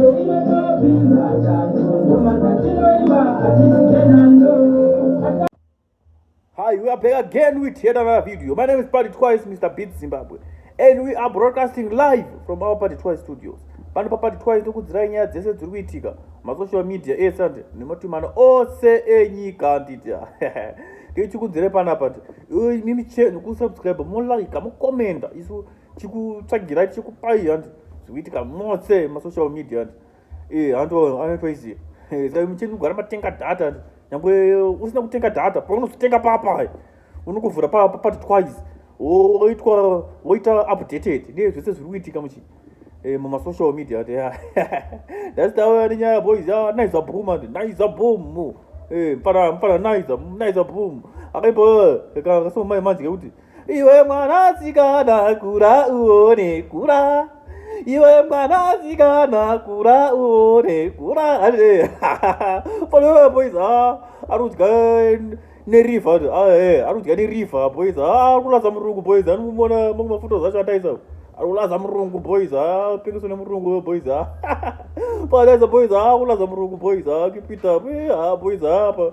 Hi, we are back again with yet another video. My name is Party Twice, Mr. Beat Zimbabwe. And we are broadcasting live from our Party Twice studios. Pano pa Party Twice tokudzirai nyaya dzese dziri kuitika masocial media ese ande nematumana ose enyika anditi tichikudzire panapa nti mimi chenu kusubscribe molike mokomenda isu chikutsvagirai chikupai handi zvikuitika mose masocial media handi e eh, handoanotoiziva eh, saka mucheni kugara matenga data handi nyangwe usina kutenga data paunozotenga papa unokuvhura papati twice woitwa woita updated ne zvese zviri kuitika muchi eh, mumasocial media ati that's the way nyaya boys ya naiza boom ati naiza boom eh mpana mpana naiza naiza boom akaimbo eh, akasoma mai manje kuti iwe mwanasikana kura uone kura iwe mwanasikana kura uone kura ane fanira poiza ari kudya nerifa ari kudya nerifa poiza ari kulaza murungu poiza anomumona mamwe mafuta zacho ataisa ari kulaza murungu poiza apengeso nemurungu poiza paataisa poiza ari kulaza murungu poiza kipita poiza apa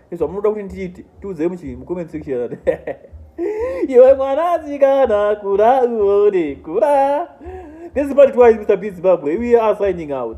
izvo munoda kuti ndiite tiudzei muchii mucomment section iwe mwana asikana kura uone kura this is part twice mr b zimbabwe we are signing out